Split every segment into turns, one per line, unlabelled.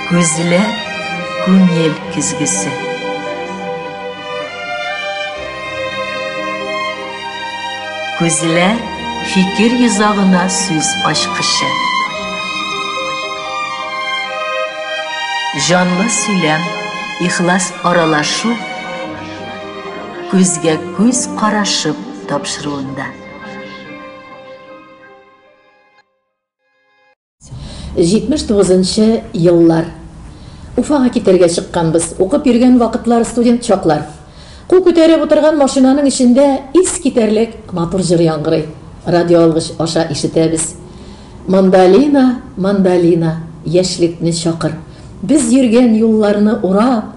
Күзләр күңел көзгесе. Күзләр фикер йозагына сүз ачкычы. Җанлы сөйләм, ихлас аралашу күзгә күз карашып тапшыруында.
79 нчы еллар. Уфага китәргә чыкканбыз. Укып йөргән вакытлар, студент чаклар. Кул күтәреп утырган машинаның эчендә искитәрлек матур җыр яңгырый. Радиоалгыч аша ишетәбез. Мандолина, мандолина, яшьлекне чакыр. Без йөргән юлларны урап,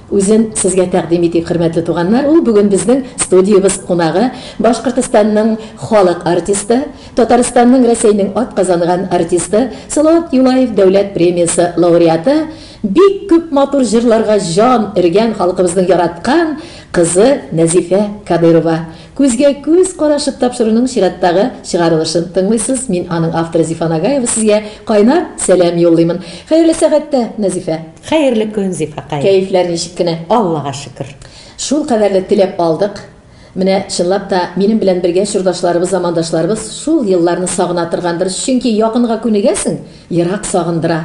Үзен сезгә тәкъдим итик, хөрмәтле туганнар, ул бүген безнең студиябез кунагы, Башкортостанның халык артисты, Татарстанның, Рәсәйнең атказанган артисты, Салават Юлаев дәүләт премиясе лауреаты, бик күп матур җырларга җан өргән халкыбызның яраткан кызы Нәзифә Кадыйрова. Күзгә күз карашып тапшыруның чираттагы чыгарылышын тыңлыйсыз. Мин, аның авторы Зифа Нагаева сезгә кайнар сәлам юллыймын. Хәерле сәгатьтә, Нәзифә! Хәерле көн,
Зифакай! Кәефләр ничек кенә?
Аллага шөкер!
Шул кадәрле
теләп алдык. Менә, чынлап та, минем белән бергә чордашларыбыз, замандашларыбыз шул елларны сагына торгандыр, чөнки якынга күнегәсең, ерак сагындыра.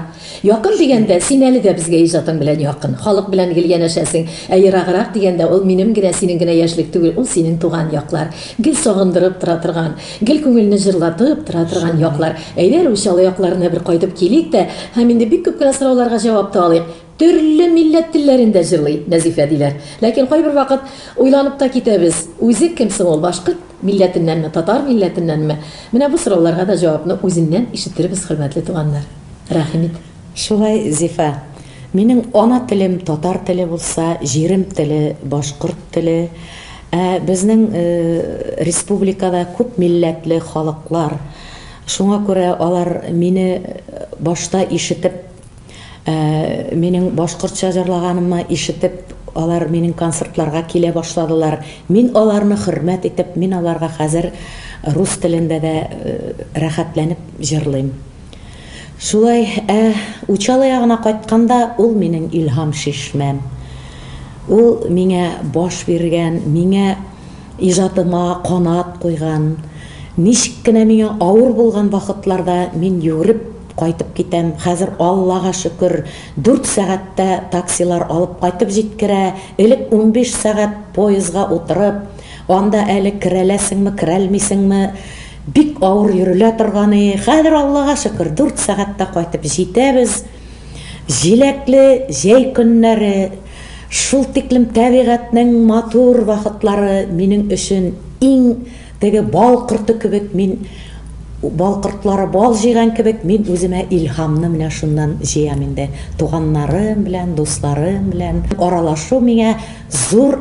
Якын дигәндә, син әле дә безгә иҗатың белән якын. Халык белән гел янәшәсең. Ә ераграк дигәндә, ул минем генә, синең генә яшьлек түгел, ул синең туган яклар. Гел сагындырып тора торган. Гел күңелне җырлатып тора торган яклар. Әйдә, Русия, олы якларына бер кайтып килик тә һәм инде бик күп кенә сорауларга җавап та алыйк. Төрле милләт телләрен дә җырлый Нәзифә, диләр. Ләкин кайбер вакыт уйланып та китәбез, үзе кем соң ул, башкорт милләтеннәнме, татар милләтеннәнме? Менә бу сорауларга да җавапны үзеннән ишеттербез, хөрмәтле туганнар. Рәхим ит. Шулай,
Зифа. Минем ана телем татар теле булса, җирем теле башкорт теле. Ә безнең республикада күп милләтле халыклар. Шуңа күрә алар мине башта ишетеп, минем башкортча җырлаганыма ишетеп, алар минем концертларга килә башладылар. Мин аларны хөрмәт итеп, мин аларга хәзер рус телендә дә рәхәтләнеп җырлыйм. Шулай, ә Учалы ягына кайтканда, ул минем илһам шишмәм. Ул миңа баш биргән, миңа, иҗатыма канат куйган. Ничек кенә миңа авыр булган вакытларда мин йөгереп кайтып китәм. Хәзер, Аллага шөкер, дүрт сәгатьтә таксилар алып кайтып җиткерә. Элек унбиш сәгать поездга утырып, анда әле керәләсеңме, керәлмисеңме, Бик авыр йөрелә торган и, хәзер Аллага шөкер, дүрт сәгатьтә кайтып җитәбез. Җиләкле җәй көннәре, шул тиклем табигатьнең матур вакытлары минем өчен иң теге бал корты кебек, мин бал кортлары бал җыйган кебек, мин үземә илһамны менә шуннан җыям инде. Туганнарым белән, дусларым белән аралашу миңа зур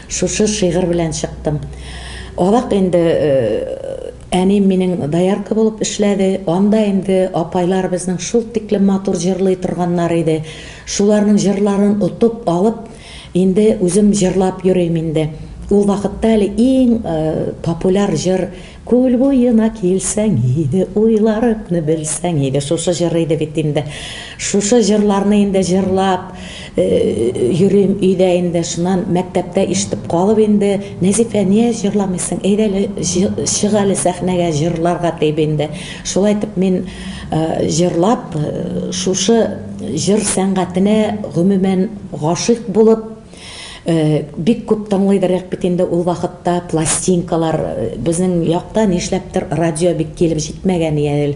Шушы шигырь белән чыктым. Азак инде әнием минем доярка булып эшләде. Анда инде апайлар безнең шул тиклем матур җырлый торганнар иде. Шуларның җырларын отып алып, инде үзем җырлап йөрим инде. Ул вакытта әле иң популяр җыр, Күл буена килсәң иде, уйларыкны белсәң иде. Шушы җыр иде бит инде. Шушы җырларны инде җырлап йөрим өйдә инде. Шуннан мәктәптә ишетеп калып инде, Нәзифә, ниә җырламыйсың, әйдә әле чык әле сәхнәгә, җырларга дип инде. Шулай итеп мин җырлап, шушы җыр сәнгатенә гомумән гашыйк булып, Бик күп тыңлыйдыр рәк бит инде ул вакытта пластинкалар, безнең якта нишләптер радио бик килеп җитмәгән я ел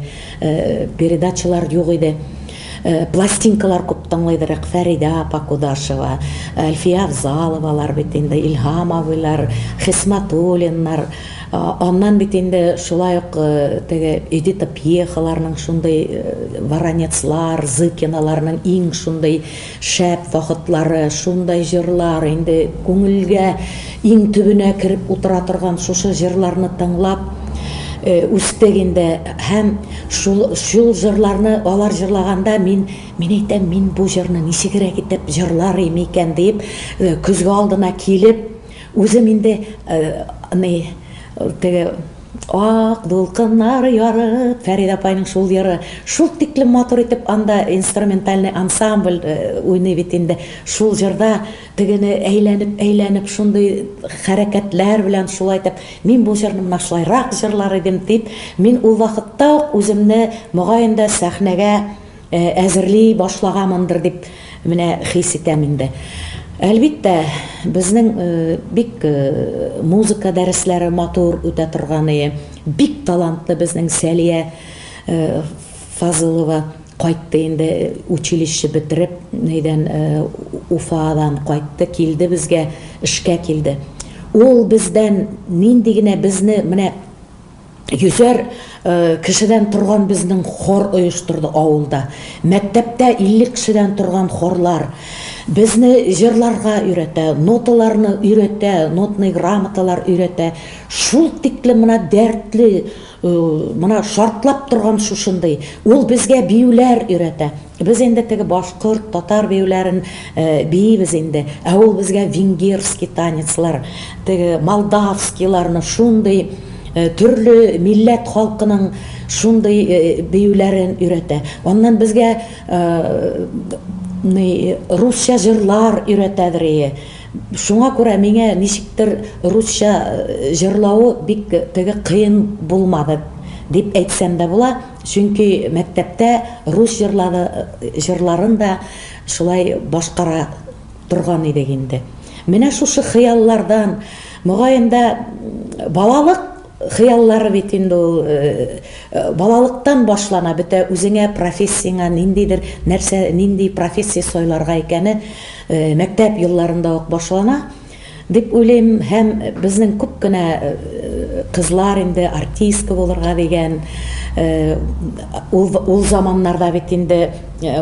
передачалар юк иде. Пластинкалар күп тыңлыйдыр рәк, Фәридә апа Кудашева, Әлфия Авзаловалар бит инде, Илһам абыйлар, Хисматуллиннар. Аннан бит инде шулай ук теге Эдита Пьехаларның шундый Воронецлар, Зыкиналарның иң шундый Шәп вакытлары, шундай җырлар, инде күңелгә иң төбенә кереп утыра торган шушы җырларны тыңлап үстек инде һәм шул шул җырларны алар җырлаганда мин мин әйтәм мин бу җырны ничегрәк итеп җырлар им икән диеп көзге алдына килеп үзем инде ни теге Ак дулкыннар ярып, Фәридә апайның шул йыры шул тиклем матур итеп анда инструментальный ансамбль уйный бит инде, шул җырда тегене әйләнеп-әйләнеп шундый хәрәкәтләр белән шулай итеп, мин бу җырны менә шулайрак җырлар идем дип, мин ул вакытта ук үземне, мөгаен дә, сәхнәгә Әзерли башлагамындыр дип менә хис итәм инде. Әлбиттә, безнең бик музыка дәресләре матур үтә торганые, бик талантлы безнең Сәлия Фазылова кайтты инде, училище бетереп, нидән, Уфадан кайтты, килде безгә, эшкә килде. Ул бездән нинди генә безне менә. Йөзәр кешедән торган безнең хор оештырды авылда. Мәктәптә 50 кешедән торган хорлар безне җырларга өйрәтә, ноталарны өйрәтә, нотный грамоталар өйрәтә. Шул тиклем менә дәртле, менә шартлап торган шушындый. Ул безгә биюләр өйрәтә. Без инде теге башкорт, татар биюләрен биибез инде, ә ул безгә венгерский танецлар, теге молдавскийларны, шундый төрле милләт халкының шундый биюләрен өйрәтә. Аннан безгә ни русча җырлар өйрәтәдер ие. Шуңа күрә миңа ничектер русча җырлавы бик теге кыен булмады дип әйтсәм дә була. Чөнки мәктәптә рус җырлары җырларын да шулай башкара торган идек инде. Менә шушы хыяллардан, мөгаен да, балалык хыяллары бит инде ул, балалыктан башлана бөтә үзеңә профессияңә ниндидер нәрсә, нинди профессия сайларга икәне мәктәп елларында ук башлана. Дип уйлыйм һәм безнең күп кенә кызлар инде артистка булырга дигән ул заманнарда бит инде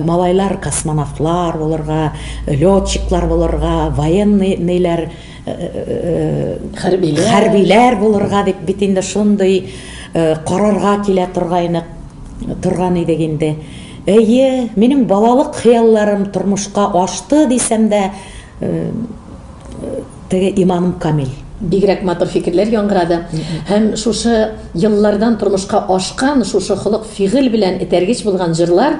малайлар космонавтлар булырга, летчиклар булырга, военный ниләр хәрбиләр хәрбиләр булырга дип бит инде шундый карарга килә торгайны торган идек инде. Әйе, минем балалык хыялларым тормышка ашты дисәм дә, Теге иманым камил. Бигрәк матур
фикерләр яңгырады. Һәм шушы еллардан тормышка ашкан, шушы холык фигыль белән этәргеч булган җырлар,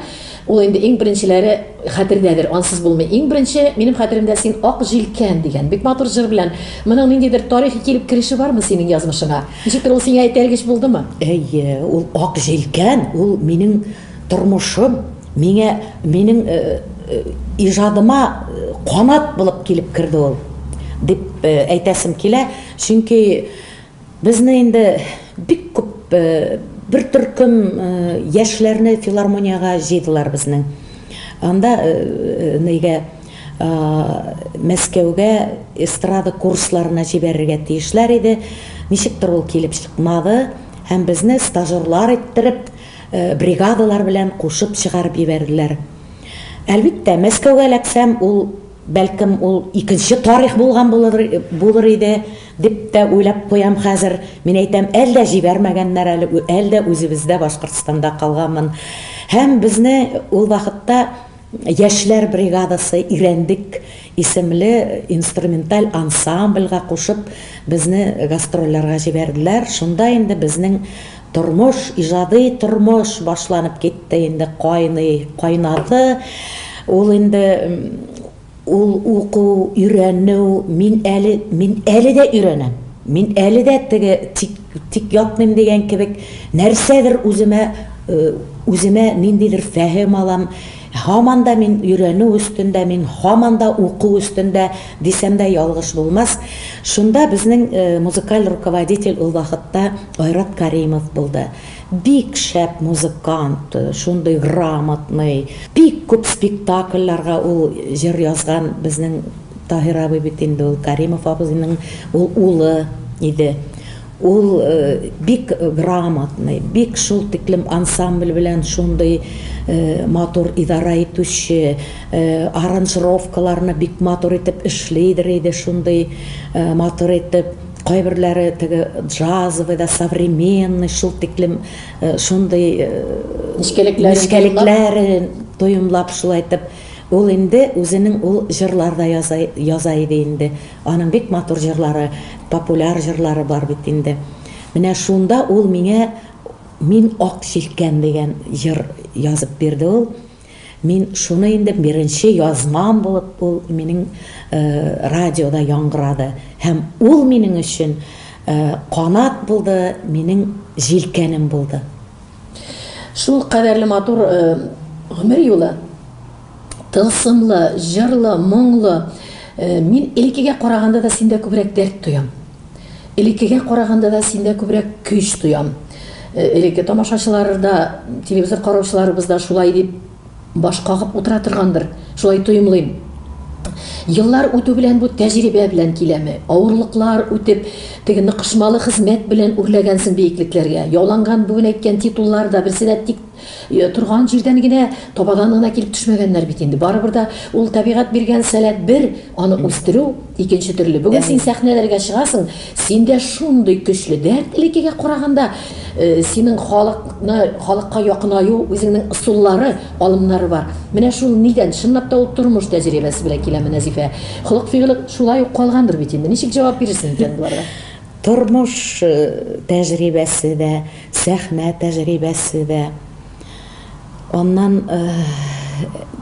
ул инде иң беренчеләре хәтердәдер, ансыз булмый. Иң беренче минем хәтеремдә син Ак җилкән дигән бик матур җыр белән. Моның ниндидер тарихи килеп кереше бармы синең язмышыңа? Ничектер ул сиңа этәргеч булдымы? Әйе, ул
Ак җилкән, ул минем Тормышым миңа, минем иҗадыма канат булып килеп керде ул, дип әйтәсем килә. Чөнки безне инде бик күп, бер төркем яшьләрне филармониягә җыйдылар безнең. Анда нигә Мәскәүгә эстрада курсларына җибәрергә тиешләр иде. Ничектер ул килеп чыкмады һәм безне стажерлар иттереп, Бригадалар белән кушып чыгарып җибәрделәр. Әлбиттә, Мәскәүгә эләксәм, ул, бәлкем, ул икенче тарих булган булыр, булыр иде, дип тә уйлап куям хәзер. Мин әйтәм, әлдә җибәрмәгәннәр әле, әлдә үзебездә, Башкортстанда калганмын. Һәм безне ул вакытта. Яшьләр бригадасы Ирәндек исемле инструменталь ансамбльгә кушып, безне гастрольләргә җибәрделәр. Шунда инде безнең тормыш, иҗади тормыш башланып китте инде, кайный, кайнады. Ул инде Ул уку, өйрәнү, мин әле, мин әле дә өйрәнәм, мин әле дә теге, тик, тик ятмыйм дигән кебек, нәрсәдер үземә, үземә ниндидер фәһем алам, һаман да мин өйрәнү өстендә, мин һаман да уку өстендә, дисәм дә ялгыш булмас. Шунда безнең музыкаль руководитель ул вакытта Айрат Каримов булды. Бик шәп музыкант, шундый грамотный, бик күп спектакльләргә ул җыр язган, безнең Таһир абый бит инде ул Кәримов абзыйның ул улы иде. Ул бик грамотный, бик шул тиклем ансамбль белән шундый матур идарә итүче, аранжировкаларны бик матур итеп эшлидер иде шундый матур итеп. Кайберләре теге джазовый да, современный, шул тиклем шундый нечкәлекләрен тоемлап шулай итеп Ул инде үзенең ул җырлар да яза иде инде. Аның бик матур җырлары, популяр җырлары бар бит инде. Менә шунда ул миңа Мин ак җилкән дигән җыр язып бирде ул. Мин шуны инде беренче язмам булып ул минем радиода яңгырады һәм ул минем өчен канат булды, минем җилкәнем булды.
Шул кадәрле матур гомер юлы, тылсымлы, җырлы, моңлы. Мин элеккегә караганда да синдә күбрәк дәрт тоям. Элеккегә караганда да синдә күбрәк көч тоям. Элекке тамашачылар да, телевизор караучыларыбыз да шулай дип баш кагып утыра торгандыр. Шулай тоемлыйм. Еллар үтү белән бу тәҗрибә белән киләме? Авырлыклар үтеп, теге ныкышмалы хезмәт белән үрләгәнсең биеклекләргә. Яуланган бүген әйткән титуллар да, берсе дә тик Торган җирдән генә, табадан гына килеп төшмәгәннәр бит инде. Барыбер дә ул табигать биргән сәләт бер, аны үстерү икенче төрле. Бүген син сәхнәләргә чыгасың, синдә шундый көчле дәрт, элеккегә караганда, синең халыкны, халыкка якынаю, үзеңнең ысуллары, алымнары бар. Менә шул нидән? Чынлап та ул тормыш тәҗрибәсе белән киләме, Нәзифә? Холык-фигыле шулай ук калгандыр бит инде. Ничек җавап бирерсең икән боларга? Тормыш
тәҗрибәсе дә. сәхнә тәҗрибәсе дә, аннан,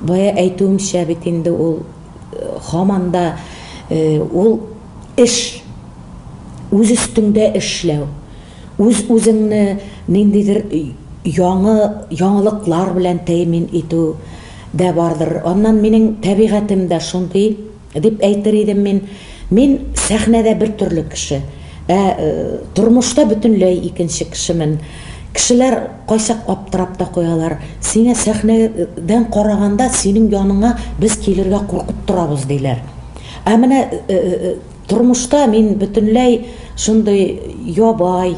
бая әйтүемчә, бит инде ул һаман да ул эш, үз өстеңдә эшләү, үз-үзеңне ниндидер яңы яңалыклар белән тәэмин итү дә бардыр. Аннан минем тәбигатем дә шундый. Дип әйтер идем мин. Мин сәхнәдә бер төрле кеше. Ә тормышта бөтенләй икенче кешемен. Кешеләр кайчак аптырап та куялар. Сиңа сәхнәдән караганда синең яныңа без килергә куркып торабыз, диләр. Ә менә тормышта мин бөтенләй шундый ябай,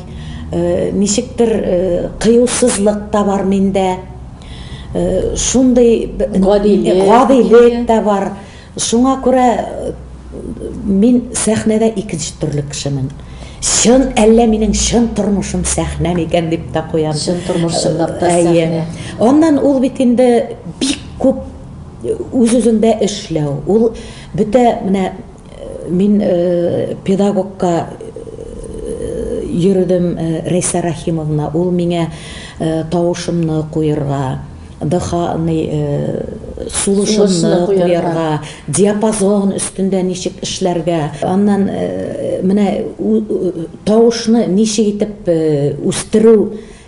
ничектер кыюсызлык та бар миндә. Шундый гадилек тә бар. Шуңа күрә мин сәхнәдә икенче төрле кешемен. Чын, әллә минем чын тормышым сәхнә микән дип тә куям. Чын тормыш чынлап
та сәхнә. Аннан ул бит
инде бик күп үз-үзеңдә эшләү. Ул бөтә менә мин педагогка йөрдем Рәйсә Рәхимовна, ул миңа тавышымны куерга, сулышымны куярга, диапазон өстендә ничек эшләргә, аннан менә тавышны ничек итеп үстерү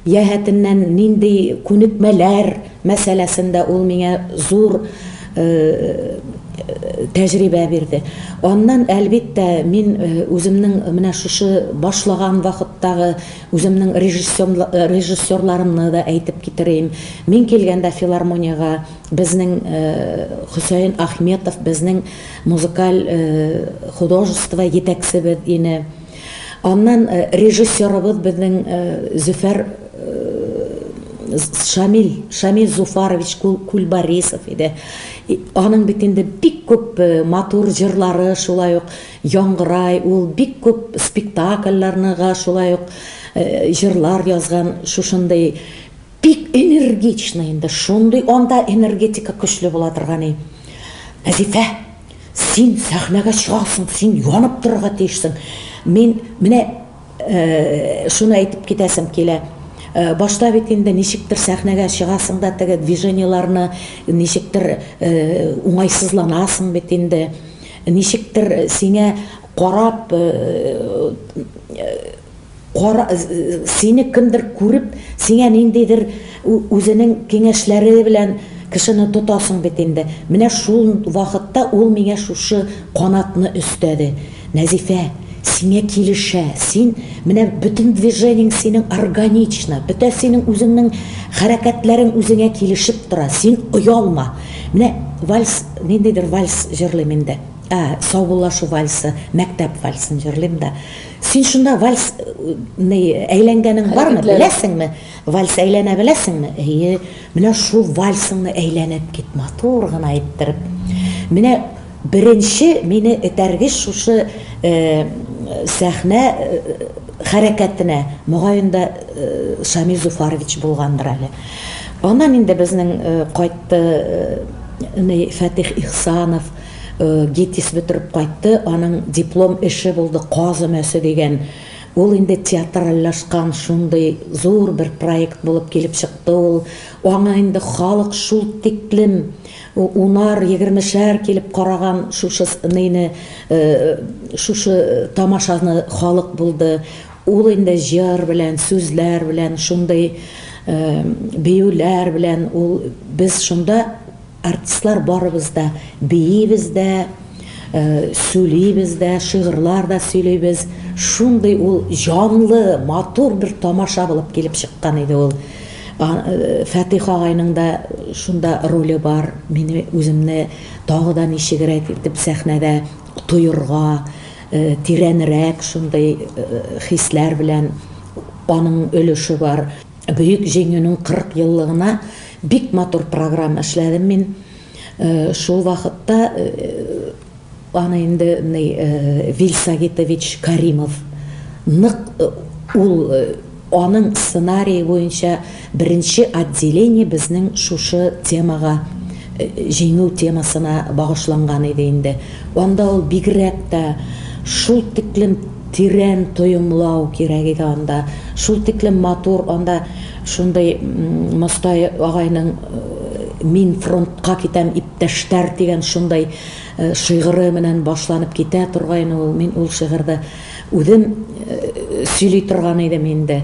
яһәтеннән нинди күнекмәләр мәсьәләсендә ул миңа зур тәҗрибә бирде. Аннан, әлбиттә, мин үземнең менә шушы башлаган вакыттагы Үземнең режиссерларымны да әйтеп китерим. Мин килгәндә филармониягә безнең Хөсәен Ахметов безнең музыкаль художество җитәкчебез ине. Аннан режиссерыбыз безнең Зөфәр Шамил, Шамил Зуфарович Кулбарисов иде. Аның бит инде бик күп матур җырлары, шулай ук Яңгырай, ул бик күп спектакльләрнега шулай ук җырлар язган, шушындый бик энергичный инде, шундый анда энергетика көчле була торган и. Вәзифә, син сәхнәгә чыгасың, син янып торырга тиешсең. Мин менә шуны әйтеп китәсем килә, башта бит инде ничектер сәхнәгә чыгасың да теге движениеләрне ничектер уңайсызланасың бит инде. Ничектер сиңа карап, кара, сине кемдер күреп, сиңа ниндидер үзенең киңәшләре белән кешене тотасың бит инде. Менә шул вакытта ул миңа шушы канатны өстәде. Нәзифә, сиңа килешә, син, менә бөтен движениең синең органично, бөтә синең үзеңнең хәрәкәтләрең үзеңә килешеп тора, син оялма. Менә вальс, ниндидер вальс җырлыйм инде. Ә, саубуллашу вальсы, мәктәп вальсын җырлыйм да. Син шунда вальс ны әйләнгәнең бармы, беләсеңме? Вальс әйләнә беләсеңме? Әйе, менә шул вальсыңны әйләнеп кит, матур гына иттереп. Менә Беренче мине этәргеч шушы сәхнә хәрәкәтенә, мөгаен дә, Шамил Зуфарович булгандыр әле. Аннан инде безнең кайтты ни Фәтих Ихсанов, ГИТИС бетереп кайтты, аның диплом эше булды Каз өмәсе дигән. Ул инде театральләшкан шундый зур бер проект булып килеп чыкты ул. Аңа инде халык шул тиклем Унар, егермешәр килеп караган шушы ныйны, шушы тамашаны халык булды. Ул инде җыр белән, сүзләр белән, шундый биюләр белән ул без шунда артистлар барыбыз да биибез дә, сүлибез дә, шигырьләр дә сөйлибез. Шундый ул җанлы, матур бер тамаша булып килеп чыккан иде ул. Фәтих агайның да шунда роле бар, мине үземне тагы да ничегрәк итеп сәхнәдә тоерга, тирәнрәк шундый хисләр белән аның өлеше бар. Бөек Җиңүнең 40 еллыгына бик матур программа эшләдем мин. Шул вакытта аны инде Вил Сагитович Каримов нык ул аның сценарие буенча беренче отделение безнең шушы темага җиңү темасына багышланган иде инде. Анда ул бигрәк тә шул тиклем тирән тоемлау кирәк иде анда, шул тиклем матур анда Шундый Мостай агайның Мин фронтка китәм, иптәштәр! дигән шундый шигыре менән башланып китә торгайны ул. Мин ул шигырьдә үзем сөйли торган идем инде.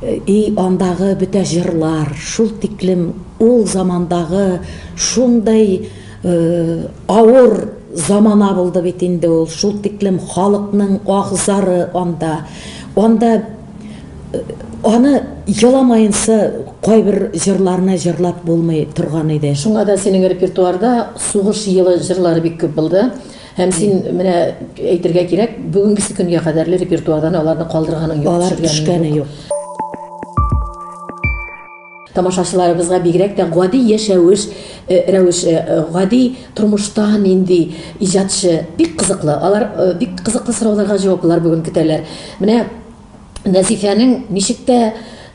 И андагы бөтә җырлар, шул тиклем ул замандагы шундый авыр замана булды бит инде ул, шул тиклем халыкның аһ-зары анда. Анда Аны еламаенча кайбер җырларны җырлап булмый торган иде. Шуңа да синең репертуарда
сугыш елы җырлары бик күп булды. Һәм син менә әйтергә кирәк, бүгенгесе көнгә кадәрле репертуардан аларны калдырганың юк, Алар төшергәнең төшкәне юк.
юк.
Тамашачыларыбызга бигрәк тә гади яшәвеш э, рәвеше, э, гади тормышта нинди иҗатчы бик кызыклы. Алар э, бик кызыклы сорауларга җаваплар бүген көтәләр. Менә Нәзифәнең ничек тә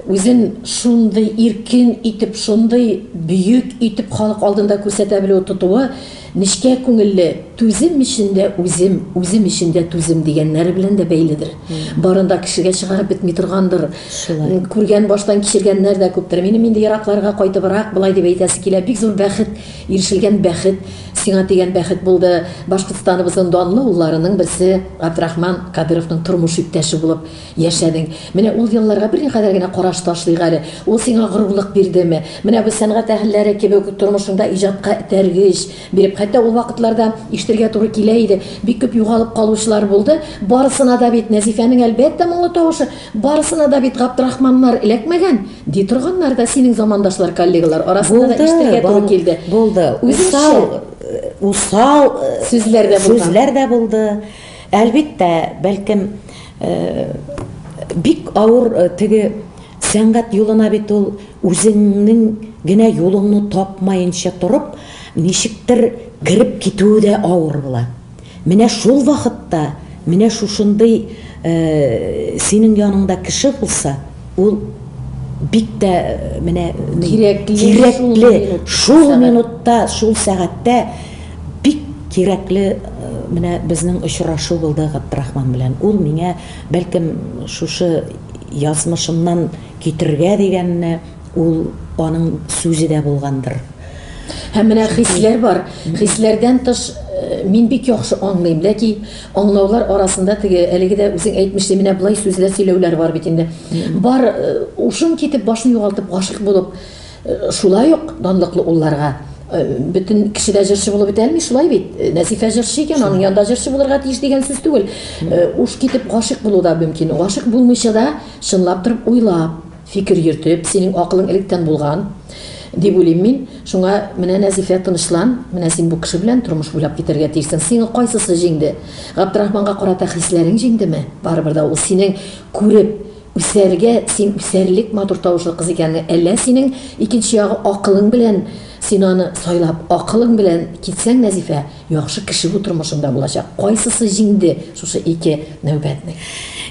үзен шундый иркен итеп, шундый бөек итеп халык алдында күрсәтә белүе, тотуы, нечкә күңелле, түзем өчен дә үзем, үзем өчен дә түзем дигәннәре белән дә бәйледер. Барын да кешегә чыгарып бетми торгандыр. Шулай. Күргән, баштан кичергәннәр дә күптер. Минем инде еракларга кайтыбрак болай дип әйтәсе килә, бик зур бәхет, ирешелгән бәхет. Сиңа дигән бәхет булды. Башкортстаныбызның данлы улларының берсе Габдрахман Кадыровның тормыш иптәше булып яшәдең. Менә ул елларга берникадәр генә караш ташлыйк әле. Ул сиңа горурлык бирдеме? Менә бу сәнгать әһелләре кебек үк тормышыңда иҗатка этәргеч биреп, хәтта ул вакытларда ишетергә туры килә иде, бик күп югалып калучылар булды. Барысына да бит Нәзифәнең, әлбәттә, моңлы тавышы, барысына да бит Габдрахманнар эләкмәгән. Ди торганнар да синең замандашлар, коллегалар арасында да ишетергә туры килде. Булды. Усал,
усал сүзләр дә булды. Сүзләр дә булды. Әлбәттә, бәлкем бик авыр теге сәнгать юлына бит ул үзеңнең генә юлыңны тапмаенча торып, ничектер кереп китүе дә авыр була. Менә шул вакытта, менә шушындый синең яныңда кеше булса, ул бик тә менә кирәкле, шул минутта, шул сәгатьтә бик кирәкле менә безнең очрашу булды Габдрахман белән. Ул миңа, бәлкем, шушы язмышымнан китергә дигәнне, Ул аның сүзе дә булгандыр. Һәм менә
хисләр бар. Хисләрдән тыш э, мин бик яхшы аңлыйм, ләки аңлаулар арасында теге әлеге дә үзең әйтмешли менә болай сүзләр сөйләүләр бар бит инде. Бар э, ушын китеп, башын югалтып, гашык булып, э, шулай ук данлыклы улларга бөтен кеше дә җырчы булып бетә алмый, шулай бит. Нәсифә җырчы икән, аның янында җырчы булырга тиеш дигән сүз түгел. Уш китеп гашык булу да мөмкин. Гашык булмыйча да чынлап торып уйлап, Фикер йөртеп, синең акылың электән булган, дип уйлыйм мин. Шуңа, менә, Нәзифә, тынычлан, менә син бу кеше белән тормыш буйлап китәргә тиешсең. Сиңа кайсысы җиңде? Габдрахманга карата хисләрең җиңдеме? Барыбер дә ул синең күреп үсәргә, син үсәрлек матур тавышлы кыз икәнлең. Әллә синең, икенче ягы, акылың белән син аны сайлап, акылың белән китсәң, Нәзифә, Яхшы кеше бу тормышында булачак. Кайсысы җиңде шушы ике нәүбәтне?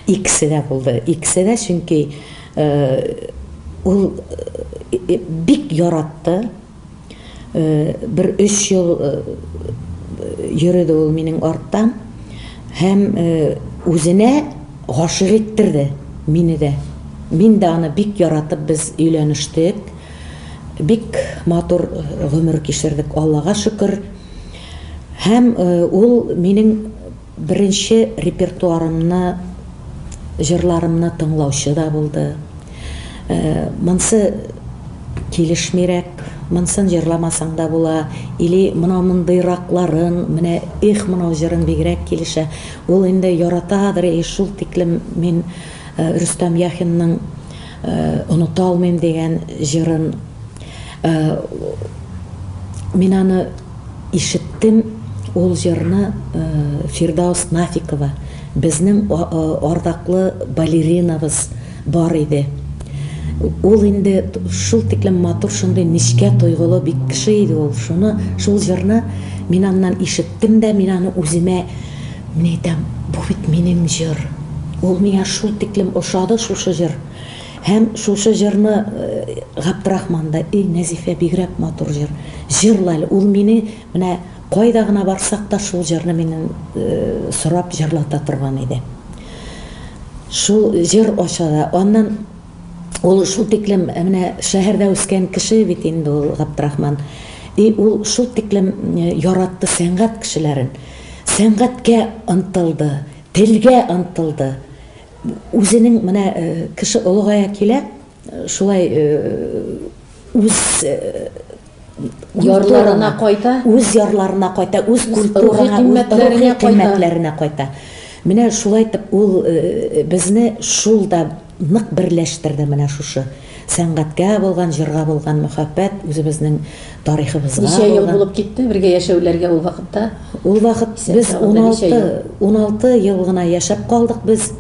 Икесе дә
булды. Икесе дә, чөнки ул бик яратты. Бер өч ел йөрде ул минем артта һәм үзенә гашыйк иттерде мине дә. Мин дә аны бик яратып без өйләнештек. Бик матур гомер кичердек, Аллага шөкер. Һәм ул минем беренче репертуарымны, җырларымны тыңлаучы да булды. Монсы килешмирәк, монсын җырламасаң да була, или мынау мондыйракларын, менә Эх, мынау җырың бигрәк килешә. Ул инде яратадыр и шул тиклем мин Рөстәм Яхинның, Оныта алмыйм дигән җырын мин аны ишеттем, ул җырны Фирдаус Нафикова, безнең ардаклы балеринабыз бар иде. Ул инде шул тиклем матур, шундый нечкә тойгылы бик кеше иде ул, шуны, шул җырны мин аннан ишеттем дә, мин аны үземә Мин әйтәм, бу бит минем җыр! Ул миңа шул тиклем ошады шушы җыр! Һәм шушы җырны Габдрахман да, Эй, Нәзифә, бигрәк матур җыр! Җырла әле! Ул мине менә кайда гына барсак та шул җырны миннән сорап җырлата торган иде. Шул җыр ошады. Аннан ул шул тиклем менә шәһәрдә үскән кеше бит инде ул Габдрахман. И ул шул тиклем яратты сәнгать кешеләрен. Сәнгатькә ынтылды, телгә ынтылды. Үзенең менә кеше олыгая килә, шулай үз
ярларына кайта, үз ярларына кайта,
үз культурына, рухи кыйммәтләренә кайта. Менә шулай итеп ул безне шул да нык берләштерде менә шушы сәнгатькә булган, җырга булган мәхәббәт, үзебезнең тарихыбызга булган. Ничә ел булып
китте бергә яшәүләргә ул вакытта? Ул вакыт
без уналты, уналты ел гына яшәп калдык без.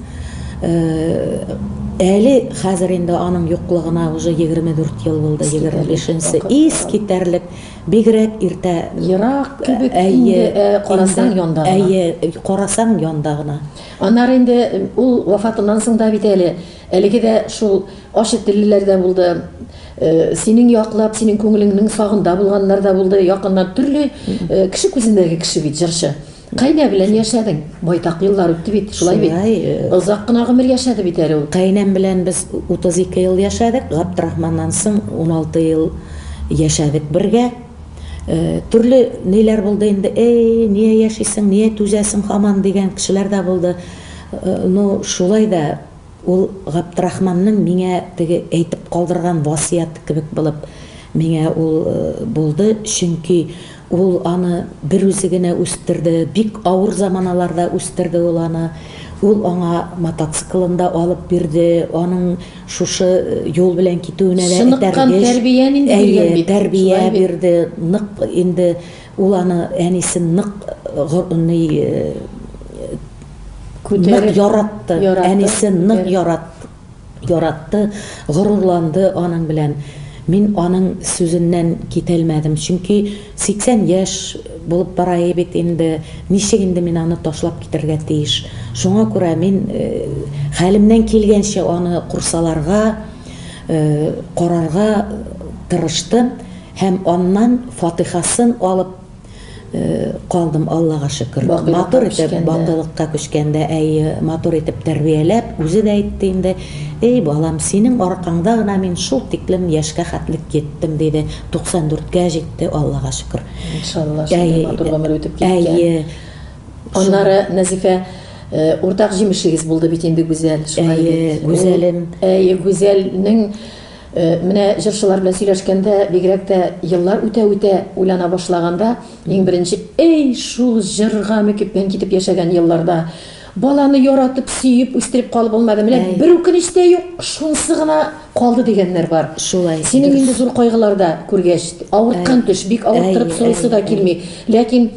Әле хәзер инде аның юклыгына уже егерме дүрт ел булды, егерме бишенче искитәрлек, бигрәк иртә. Ерак кебек
инде, карасаң янда гына. Әйе, карасаң янда
гына. Аннары инде
ул вафатыннан соң да бит әле әлеге дә шул ачы теллеләр дә булды, синең яклап, синең күңелеңнең сагында булганнар да булды, якыннан төрле кеше күзендәге кеше бит җырчы. Кайнә белән яшәдең, байтак еллар үтте бит, шулай бит. Озак кына гомер яшәде бит әле ул. Кайнәм белән без
32 ел яшәдек, Габдрахманнан соң 16 ел яшәдек бергә. Төрле ниләр булды инде, әй, ния яшисең, ния түзәсең һаман, дигән кешеләр дә булды. Ну, шулай да ул Габдрахманның миңа теге әйтеп калдырган васыяте кебек булып миңа ул булды, чөнки ул аны бер үзе генә үстерде, бик авыр заманаларда үстерде ул аны. Ул аңа мотоциклын да алып бирде, аның шушы юл белән китүенә дә Сыныккан тәрбия
нинди биргән бит. Тәрбия бирде,
нык инде ул аны әнисе нык ни күтәреп яратты. Әнисе нык яратты, яратты, горурланды аның белән. Мин аның сүзеннән китәлмәдем, чөнки 80 яшь булып бара бит инде, ничек инде мин аны ташлап китәргә тиеш? Шуңа күрә мин хәлемнән килгәнчә аны курсаларга, карарга тырыштым һәм аннан фатыйхасын алып калдым, Аллага шөкер. Матур итеп, бакыйлыкка күчкәндә, әйе, матур итеп тәрбияләп, үзе дә әйтте инде, Әй балам, синең аркаңда гына мин шул тиклем яшькә хәтлек йиттем, диде. 94-кә җитте, Аллага шөкер. Иншалла, шундый
матур гомер үтеп киткән. Әйе. Аннары Назифә э, уртак җимешлегез булды бит инде Гүзәл. Әйе,
Гүзәлем.
Әйе, Гүзәлнең Э, менә җырчылар белән сөйләшкәндә бигрәк тә еллар үтә үтә уйлана башлаганда иң беренче эй шул җырга мөкиббән китеп яшәгән елларда Баланы яратып, сөеп үстереп калып булмады. Менә Әй. бер үкенеч тә юк, шунысы гына калды дигәннәр бар. Шулай. Синең дөрес. инде
зур кайгыларда
күргәч, авырткан Әй. төш, бик авырттырып Әй, сорыйсы әй, да әй. килми. Ләкин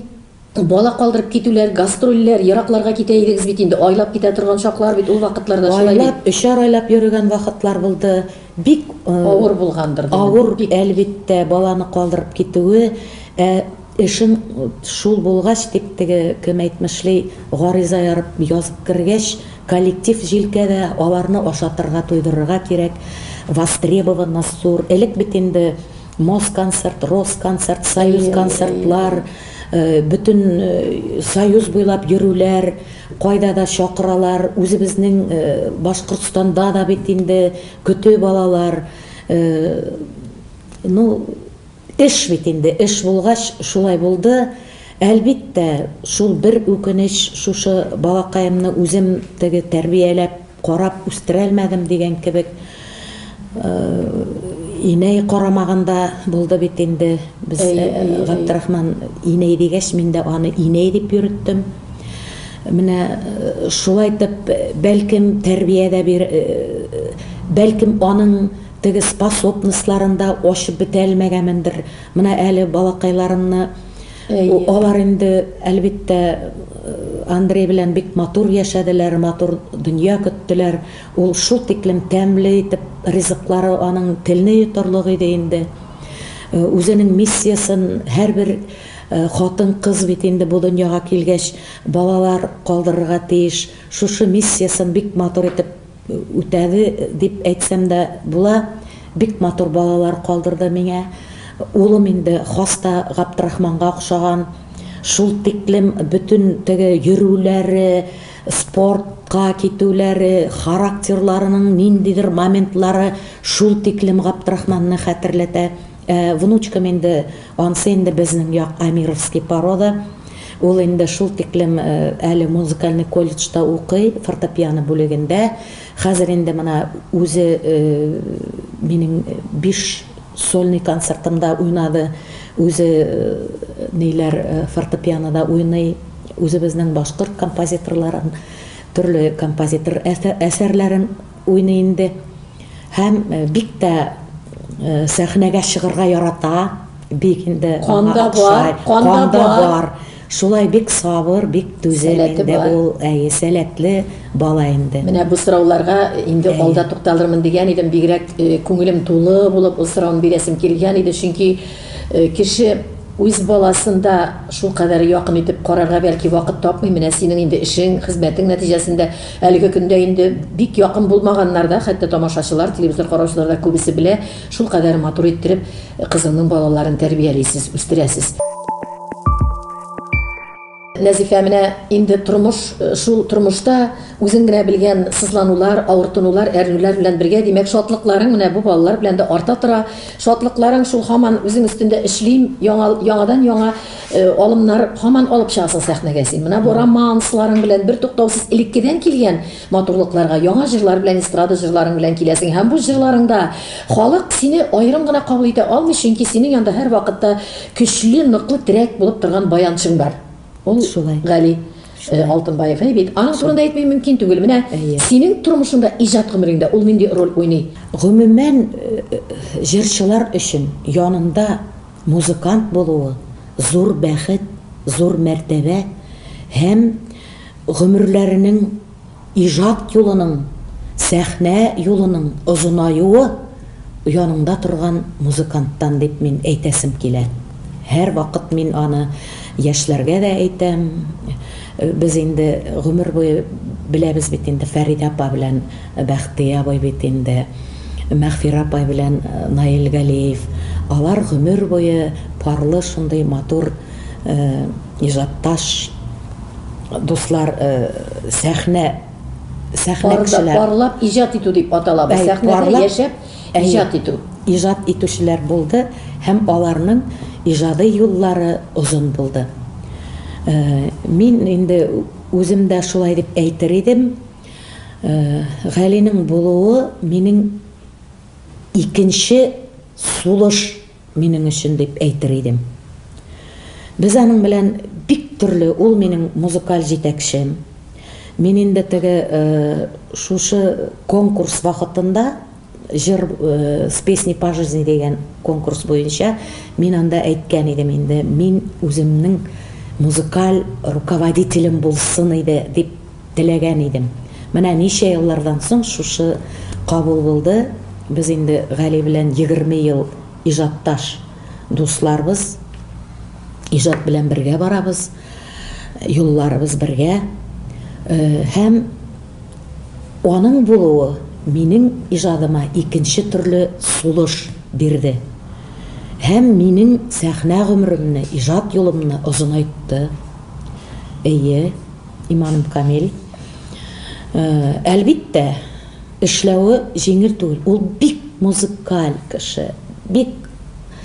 бала калдырып китүләр, гастрольләр, еракларга китә идегез бит инде, айлап китә торган чаклар бит ул вакытларда шулай бит. Айлап, өчәр айлап
йөрегән вакытлар булды. Бик авыр булгандыр,
авыр бик әлбиттә
баланы калдырып китүе, ә эшең шул булгач, дип теге кем әйтмешли, гариза ярып язып кергәч, коллектив җилкәдә, аларны ашатырга, туйдырырга кирәк, востребованность зур, элек бит инде Москонцерт, Росконцерт, Союзконцертлар, бөтен Союз буйлап йөрүләр, Кайда да чакыралар, үзебезнең Башкортстанда да бит инде көтеп алалар. Ну, эш бит инде, эш булгач, шулай булды. Әлбиттә, шул бер үкенеч, шушы балакаемны үзем теге тәрбияләп, Карап үстерәлмәдем дигән кебек инәй карамаганда булды бит инде. Без Габдрахман инәй дигәч, мин дә аны инәй дип йөреттем. Менә шулай итеп, бәлкем, тәрбиядә бир, бәлкем, аның теге способностларын да ачып бетә алмәгәмендер. Менә әле балакайларымны Алар инде, әлбиттә, Андрей белән бик матур яшәделәр, матур дөнья көттеләр. Ул шул тиклем тәмле итеп ризыклары аның телне йотарлык иде инде. Үзенең миссиясен һәрбер хатын-кыз бит инде бу дөньяга килгәч балалар калдырырга тиеш, шушы миссиясен бик матур итеп Үтәде дип әйтсәм дә була, бик матур балалар калдырды миңа. Улым инде хаста Габдрахманга охшаган, шул тиклем бөтен теге йөрүләре, спортка китүләре, характерларының ниндидер моментлары шул тиклем Габдрахманны хәтерләтә. Ә внучкам инде, ансы инде безнең як Амировский порода. Ул инде шул тиклем әле музыкальный колледжда укый, фортепиано бүлегендә. Хәзер инде менә үзе минем биш сольный концертымда уйнады, үзе ниләр фортепианода уйный, үзебезнең башкорт композиторларын, төрле композитор әсәрләрен. Уйный инде һәм бик тә сәхнәгә чыгырга ярата, бик инде аңа
охшай, кан да бар, шулай
бик сабыр, бик түзем инде ул, әйе, сәләтле бала инде. Менә бу сорауларга
инде алда тукталырмын дигән идем, бигрәк күңелем тулы булып ул сорауны бирәсем килгән иде, чөнки кеше үз баласын да шулкадәр якын итеп карарга бәлки вакыт тапмый, менә синең инде эшең, хезмәтең нәтиҗәсендә, Әлеге көндә инде бик якын булмаганнар да, хәтта тамашачылар, телевизор караучылар да күбесе белә, шулкадәр матур иттереп кызыңның балаларын тәрбиялисез, үстерәсез. Нәзифә, менә инде тормыш, шул тормышта үзең генә белгән сызланулар, авыртынулар, әрнүләр белән бергә, димәк, шатлыкларың менә бу балалар белән дә арта тора. Шатлыкларың шул һаман үзең өстендә эшлим, яңа, яңадан-яңа Алымнар һаман алып чыгасың сәхнәгә син. Менә бу романсларың белән бертуктаусыз элеккедән килгән матурлыкларга яңа җырлар белән, эстрада җырларың белән киләсең һәм бу җырларыңда халык сине аерым гына кабул итә алмый, чөнки синең янда һәрвакытта көчле, ныклы терәк булып торган баянчың бар. Ул Гали Алтынбаев әй бит. Аның турында әйтми мөмкин түгел. Менә синең тормышыңда, иҗат гомереңдә ул нинди роль уйный? Гомумән,
җырчылар өчен янында Музыкант булуы, зур бәхет, зур мәртәбә һәм гомерләренең, иҗат юлының, сәхнә юлының озынаюы яныңда торган музыканттан дип мин әйтәсем килә. Һәрвакыт мин аны яшьләргә дә әйтәм. Без инде гомер буе беләбез бит инде Фәридә апа белән. Бәхтия абый бит инде, Мәгъфирә апай белән Наил Галиев, алар гомер буе парлы шундый матур иҗатташ, дуслар, сәхнә, сәхнә кешеләр. Парлап иҗат
итү дип атала бу, сәхнәдә яшәп иҗат итү. Иҗат итүчеләр
булды һәм аларның иҗади юллары озын булды. Мин инде үзем дә шулай дип әйтер идем. Галинең булуы минем икенче сулыш минем өчен дип әйтер идем. Без аның белән бик төрле, ул минем музыкаль җитәкчем. Мин инде теге шушы конкурс вакытында, Җыр с песней по жизни дигән конкурс буенча мин анда әйткән идем инде, мин үземнең музыкаль руководителем булсын иде дип теләгән идем. Менә ничә еллардан соң шушы кабул булды, без инде Гали белән егерме ел иҗатташ дусларбыз, иҗат белән бергә барабыз, юлларыбыз бергә һәм. Аның булуы минем иҗадыма икенче төрле сулыш бирде һәм минем сәхнә гомеремне, иҗат юлымны озынайтты. Әйе, иманым камил. Әлбиттә, эшләве җиңел түгел. Ул бик музыкаль кеше, бик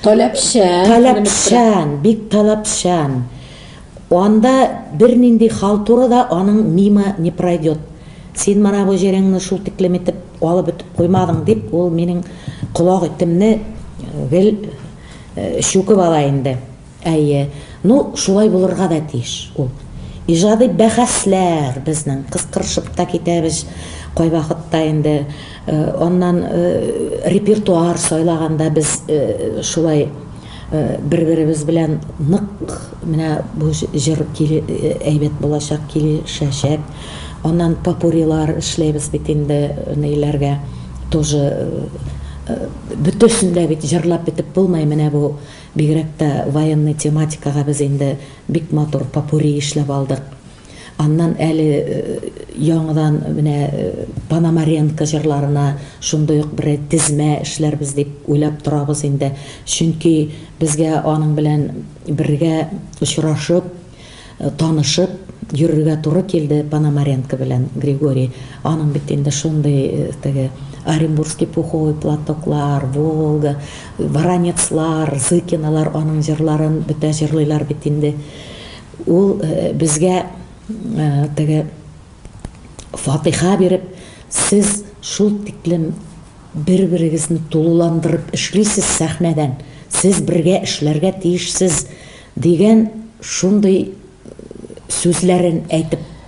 Таләпчән, беленеп тора. Таләпчән, бик таләпчән. Анда бернинди халтура да аның мимо не пройдет. Син менә бу җиреңне шул тиклем итеп алып бетеп куймадың, дип, ул минем колак итемне гел чүкеп ала инде. Әйе, ну, шулай булырга да тиеш ул. Иҗади бәхәсләр безнең, кыстырышып та китәбез кайвакытта инде. Аннан репертуар сайлаганда без шулай. Бер-беребез белән нык менә бу җыр әйбәт булачак, килешәчәк. Аннан попурилар эшләйбез бит инде, ниләргә тоже бөтәсен дә бит җырлап бетеп булмый, менә бу бигрәк тә военный тематикага без инде бик матур попури эшләп алдык. Аннан әле яңадан менә Пономаренко җырларына шундый ук бер тезмә эшләрбез дип уйлап торабыз инде. Чөнки безгә аның белән бергә очрашып, танышып йөрергә туры килде Пономаренко белән, Григорий. Аның бит инде шундый теге Оренбургский пуховый платоклар, Волга, Воронецлар, Зыкиналар аның җырларын бөтә җырлыйлар бит инде. Ул безгә теге фатыйха биреп, сез шул тиклем бер-берегезне тулыландырып эшлисез сәхнәдән, сез бергә эшләргә тиешсез, дигән шундый сүзләрен әйтеп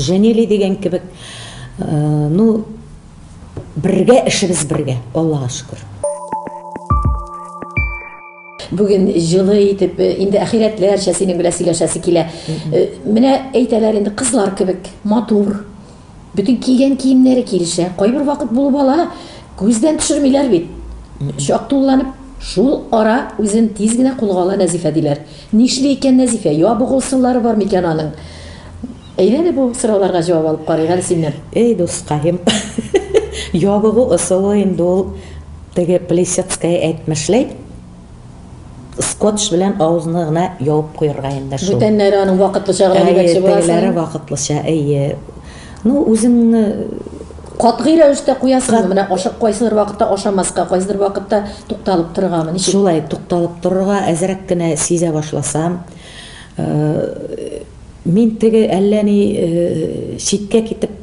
Җәнели дигән кебек, ну, бергә, эшебез бергә, Аллага шөкер.
Бүген җылы итеп, инде ахирәтләрчә синең белән сөйләшәсе килә. Менә әйтәләр инде, кызлар кебек, матур. Бөтен кигән киемнәре килешә. Кайбер вакыт булып ала, күздән төшермиләр бит. Чак тулыланып, шул ара үзен тиз генә кулга ала Нәзифә, диләр. Нишли икән Нәзифә? Ябык ул сырлары бар микән аның? Әйдә әле бу сорауларга җавап алып карыйк әле синнән. Эй, дускаем,
ябыгу ысулы инде ул теге Плисецкая әйтмешләй, скотч белән авызны гына ябып куярга инде шул. Бүтәннәре аның вакытлыча
гына димәкче буласың? Әйе, тегеләре вакытлыча,
әйе. Ну, үзеңне катгый
рәвештә куясыңмы? Менә ашап кайсыдыр вакытта ашамаска, кайсыдыр вакытта тукталып торыргамы? Ничек? Шулай, тукталып торырга
әзрәк кенә сизә башласам, мин теге әллә ни читкә китеп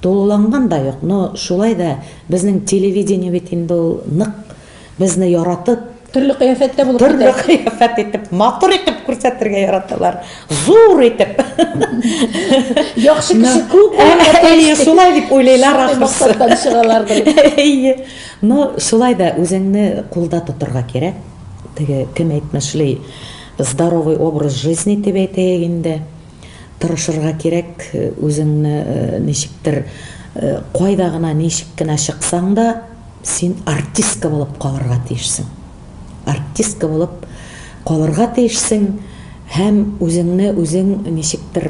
тулыланган да юк, но шулай да безнең телевидение бит инде ул нык Безне яратып, Төрле кыяфәттә
булып китә. Төрле кыяфәт итеп,
матур итеп күрсәтергә яраталар. Зур итеп.
Яхшы кеше күп. Әйе, шулай
дип уйлыйлар ахрысы.
Әйе.
Но шулай да үзеңне кулда тотырга кирәк. Теге кем әйтмешли, здоровый образ жизни дип әйтәйек инде. Тырышырга кирәк, үзеңне ничектер кайда гына, ничек кенә чыксаң да, Син артистка булып калырга тиешсең. Артистка булып калырга тиешсең һәм үзеңне үзең ничектер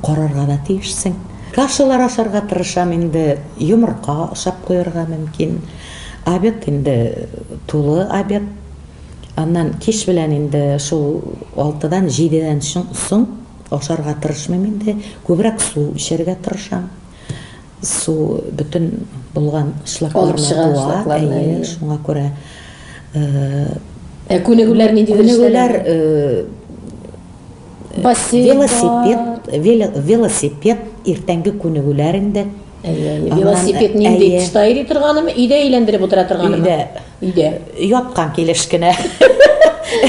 карарга да тиешсең. Кашалар ашарга тырышам инде, йомырка ашап куярга мөмкин. Обед инде тулы обед. Аннан кич белән инде шул алтыдан, җидедән соң ашарга тырышмыйм инде, күбрәк су эчәргә тырышам. Су бөтен булган шлакларны буа, әйе, шуңа күрә. Ә
күнегүләр нинди дәрешләр?
Велосипед, велосипед иртәнге күнегүләр инде. Әйе, велосипед
нинди? Тышта йөри торганымы, өйдә әйләндереп утыра торганымы? Өйдә. Өйдә. Яткан килеш
кенә.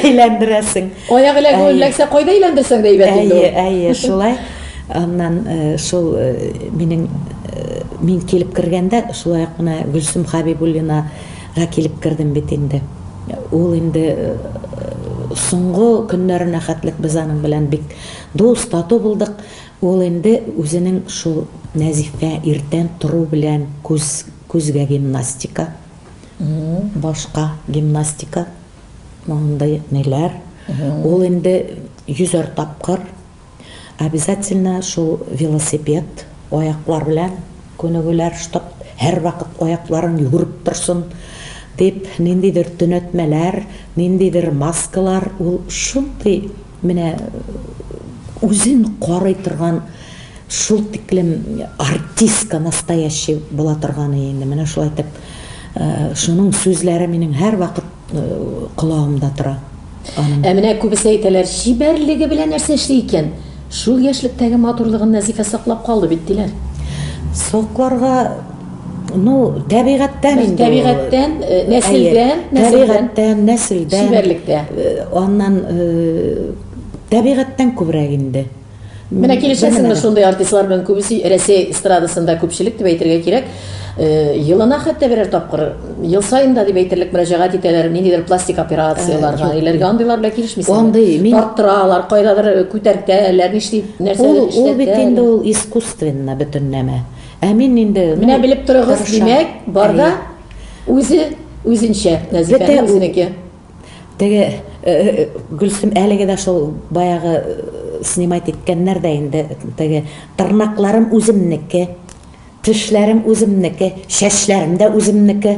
Әйләндерәсең. Аяк эләгү
эләксә, кайда әйләндерсәң дә әйбәт инде. Әйе, әйе, шулай.
Аннан э, шул э, минем э, мин килеп кергәндә, шулай ук менә Гөлсем Хабибуллинага килеп кердем бит инде. Ул инде соңгы көннәренә хәтлек без аның белән бик дус, тату булдык. Ул инде үзенең шул Нәзифә иртән тору белән күз күзгә гимнастика Башка гимнастика мондый ниләр. Ул инде йөзәр тапкыр обязательно шул велосипед аяклар белән күнегүләр, чтоб һәрвакыт аякларың йөгереп торсын дип, ниндидер төнәтмәләр, ниндидер маскалар, ул шундый Менә үзен карый торган шул тиклем артистка настоящий була торганы инде. Менә шулай итеп шуның сүзләре минем һәрвакыт колагымда тора. Аның. Ә менә
күбесе әйтәләр, чибәрлеге белән нәрсә эшли икән? Шул яшьлектәге матурлыгын Назифә саклап калды бит, диләр. Сокларга
Ну, тәбигатьтән инде. Тәбигатьтән, э,
нәселдән, тәбигатьтән, нәселдән. Чибәрлектә. Э, аннан
э, тәбигатьтән күбрәк инде. Менә
килешәсеңме шундый артистлар белән күбесе Рәсәй эстрадасында күпчелек дип әйтергә кирәк. Елына хәтта берәр тапкыр, ел саен да дип әйтерлек мөрәҗәгать итәләр, ниндидер пластик операцияләргә, иләргә андыйлар белән килешмисезме? Андый, мин тарттыралар, кайдадыр күтәртәләр, нишли, нәрсә эшләтәләр. Ул бит инде ул
искусственно бөтенләмә. Ә мин инде Менә белеп торыгыз,
димәк, бар да үзе үзенчә, Нәзифәнең үзенеке. Теге
Гөлсем әлеге дә шул баягы снимать иткәннәр дә инде теге тырнакларым үземнеке, тешләрем үземнеке, чәчләрем дә үземнеке.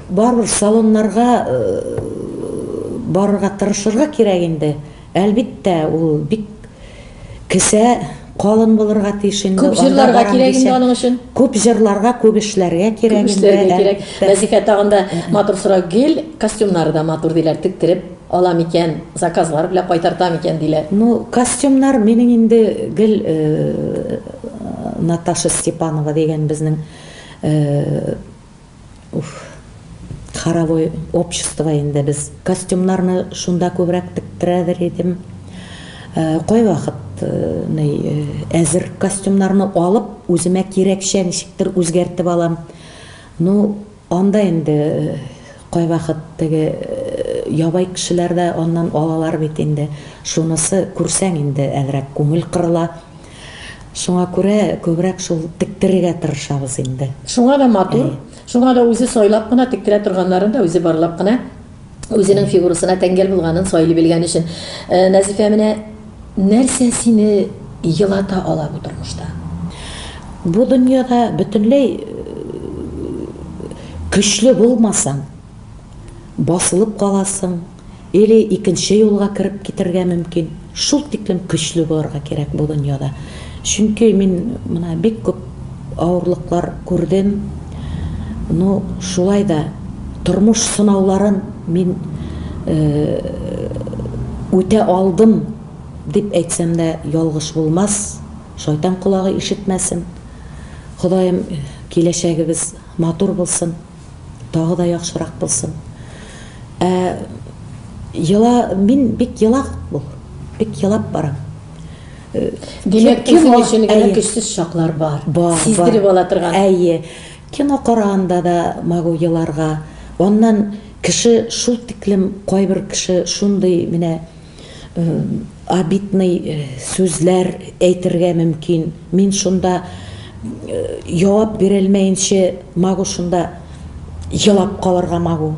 Барыбер салоннарга барырга тырышырга кирәк инде. Әлбиттә, ул бик кесә калын булырга тиеш инде. Күп җырларга кирәк инде
аның өчен. Күп җырларга,
күп эшләргә кирәк инде. Күп эшләргә кирәк. Нәзифә тагын да
матур сорау. Гел костюмнары да матур диләр, тектереп ала микән, заказлар белән кайтарта микән диләр. Ну, костюмнар
минем инде гел Наташа Степанова дигән безнең Уф. Хоровой общество инде без. Костюмнарны шунда күбрәк тектерәдер идем. Кайвакыт ни, әзер костюмнарны алып, үземә кирәкчә ничектер үзгәртеп алам. Ну, анда инде кайвакыт теге ябай кешеләр дә аннан алалар бит инде. Шунысы, күрсәң инде әзрәк күңел кырыла. Шуңа күрә күбрәк шул тектерергә тырышабыз инде. Шуңа да матур,
шуңа да үзе сайлап кына тектерә торганнарын да үзе барлап кына үзенең фигурасына тәңгәл булганын сайлый белгән өчен. Назифә, менә нәрсә сине елата ала бу тормышта?
Бу дөньяда бөтенләй көчле булмасаң. Басылып каласың, или икенче юлга кереп китергә мөмкин. Шул тиклем көчле булырга кирәк бу дөньяда. Чөнки мин менә бик күп авырлыклар күрдем. Ну, шулай да тормыш сынауларын мин үтә алдым, дип әйтсәм дә ялгыш булмас, шайтан колагы ишетмәсен. Ходаем, киләчәгебез матур булсын. тагы да яхшырак булсын. Ә ела мин бик ела бу. Бик елап барам.
Э, Димәк, кем өчен генә көчсез чаклар бар. Бар. Сиздереп ала торган. Әйе.
Кино караганда да могу еларга. Аннан кеше шул тиклем кайбер кеше шундый менә обидный сүзләр әйтергә мөмкин. Мин шунда җавап бирелмәенче магу шунда елап калырга магу.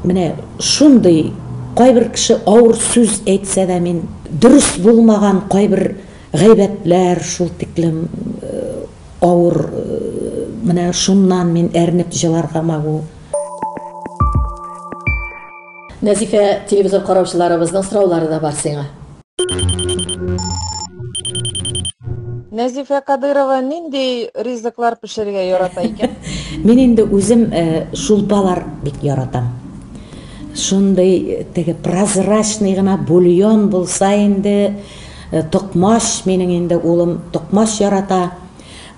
Менә шундый кайбер кеше авыр сүз әйтсә дә мин дөрес булмаган кайбер гайбәтләр шул тиклем авыр менә шуннан мин әрнеп җыларга магу.
Нәзифә, телевизор караучыларыбызның сораулары да бар сиңа.
Нәзифә Кадырова нинди ризыклар пешерергә ярата икән? Мин инде
үзем э, шулпалар бик яратам. Шундый э, теге прозрачный гына бульон булса инде, э, токмач минең инде улым токмач ярата.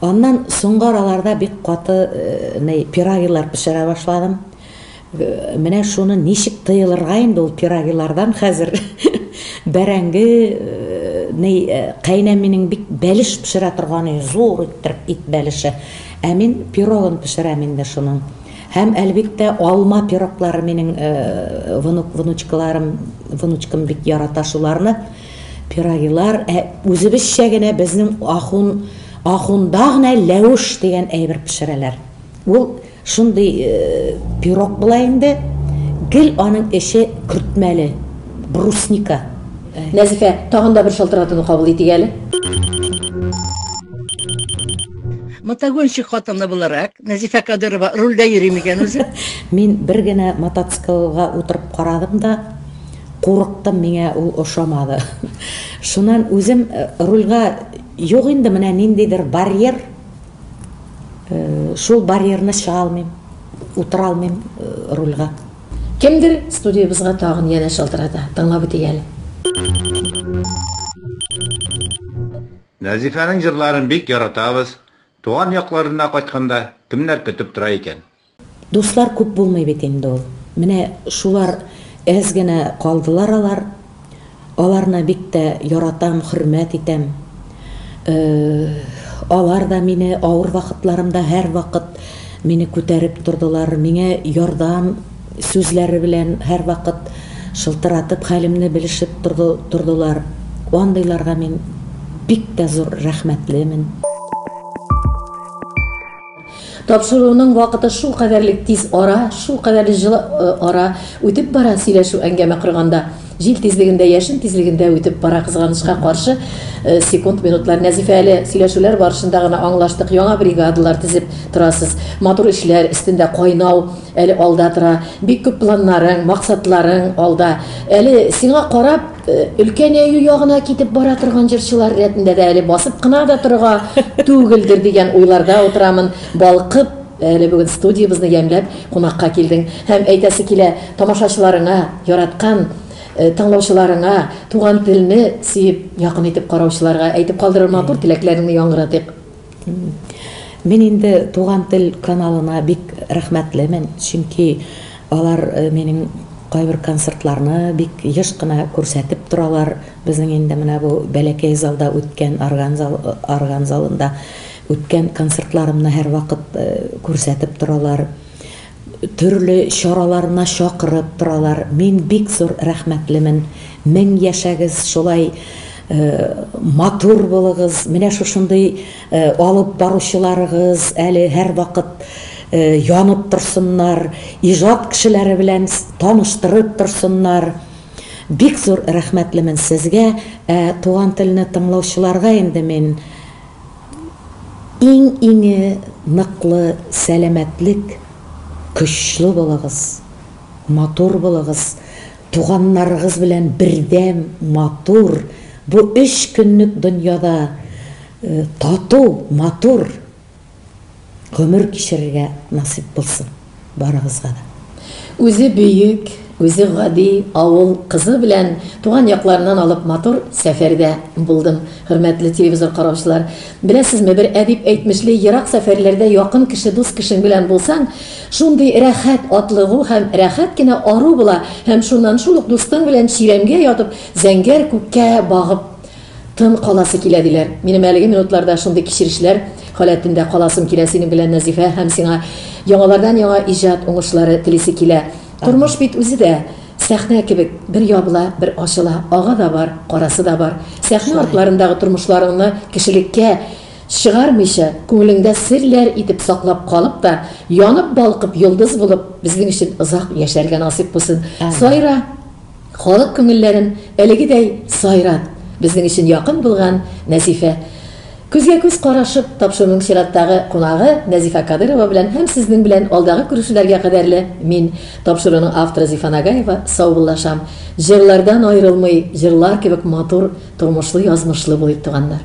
Аннан соңгы араларда бик каты пирогилар пешерә башладым. Менә шуны ничек тыелырга инде ул пирогилардан хәзер бәрәңге ни кайнәминең бик бәлеш пешерә торганы зур иттереп ит бәлеше. Ә мин пирогын пешерәм инде шуның. Һәм әлбиттә алма пироклары минең внук внучкаларым внучкам бик ярата шуларны. Пирогилар ә үзебезчә генә безнең ахун ахунда гына ләвеш дигән әйбер пешерәләр. Ул Шундый пирог була инде, гел аның эче көртмәле, брусника. Нәзифә,
тагын да бер шалтыратуны кабул итик әле.
Мотогонщик хатыны буларак, Нәзифә Кадырова рульдә йөри микән үзе? Мин бер генә
мотоциклга утырып карадым да, курыктым, миңа ул ошамады. Шуннан үзем рульгә, юк инде, менә ниндидер барьер, Шул барьерны чыга алмыйм, утыра алмыйм рульга. Кемдер
студиябезгә тагын янә шалтырата. Тыңлап үтик әле.
Назифаның җырларын бик яратабыз. Туган якларына кайтканда кемнәр көтеп тора икән? Дуслар күп
булмый бит инде ул. Менә шулар әз генә калдылар алар. Аларны бик тә яратам, хөрмәт итәм. Алар да мине авыр вакытларымда һәрвакыт мине күтәреп тордылар, миңа ярдәм сүзләре белән һәрвакыт шылтыратып хәлемне белешеп тордылар. Андыйларга мин бик тә зур рәхмәтлемен.
Тапшыруның вакыты шул кадәрлек тиз ара, шул кадәрле җылы ара үтеп бара, сөйләшү, әңгәмә корганда, җил тизлегендә, яшен тизлегендә үтеп бара, кызганычка каршы, секунд, минутлар. Нәзифә, әле сөйләшүләр барышында гына аңлаштык, яңа бригадалар тезеп торасыз, матур эшләр өстендә кайнау әле алда тора, бик күп планнарың, максатларың алда. Әле сиңа карап, Өлкәнәю ягына китеп бара торган җырчылар рәтендә дә әле басып кына да торырга түгелдер дигән уйларда утырамын. Балкып, әле бүген студиябезне ямьләп кунакка килдең. Һәм әйтәсе килә, тамашачыларыңа, яраткан тыңлаучыларыңа, туган телне сөеп, якын итеп караучыларга әйтеп калдырыр матур теләкләреңне яңгыратыйк.
Мин инде Туган тел каналына бик рәхмәтлемен, чөнки алар минем кайбер концертларны бик еш кына күрсәтеп торалар. Безнең инде менә бу бәләкәй залда үткән, орган зал, орган залында үткән концертларымны һәрвакыт күрсәтеп торалар. төрле чараларына чакырып торалар, мин бик зур рәхмәтлемен, мең яшәгез, шулай матур булыгыз, менә шушындый алып баручыларыгыз әле һәрвакыт янып торсыннар, иҗат кешеләре белән таныштырып торсыннар, бик зур рәхмәтлемен сезгә, ә Туган телне тыңлаучыларга инде мин Иң-иңе ныклы сәламәтлек, көчле булыгыз, матур булыгыз, туганнарыгыз белән бердәм, матур, бу өч көнлек дөньяда тату, матур. гомер кичерергә насыйп булсын барыгызга да. Үзе
бөек, үзе гади авыл кызы белән туган якларыннан алып матур сәфәрдә булдым. Хөрмәтле телевизор караучылар, беләсезме, бер әдип әйтмешли, ерак сәфәрләрдә якын кеше, дус кешең белән булсаң, шундый рәхәт атлыгу һәм рәхәт кенә ару була һәм шуннан шул ук дустың белән чирәмгә ятып, зәңгәр күккә багып Тын каласы килә, диләр. Минем әлеге минутларда шундый кичерешләр халәтендә каласым килә синең белән, Нәзифә, һәм сиңа яңалардан-яңа иҗат уңышлары телисе килә. Тормыш бит үзе дә сәхнә кебек, бер ябыла, бер ачыла, ага да бар, карасы да бар. Сәхнә артларындагы тормышларыңны кешелеккә чыгармыйча, күңелеңдә серләр итеп саклап калып та, янып-балкып йолдыз булып, безнең өчен озак яшәргә насыйп булсын. Сайра! Халык күңелләрен әлегедәй сайрап, безнең өчен якын булган Нәзифә. Күзгә-күз карашып, тапшыруның чираттагы кунагы Нәзифә Кадыйрова белән һәм сезнең белән алдагы күрешүләргә кадәрле мин, тапшыруның авторы Зифа Нагаева, саубуллашам. Җырлардан аерылмый, җырлар кебек матур, тормышлы-язмышлы булыйк, туганнар!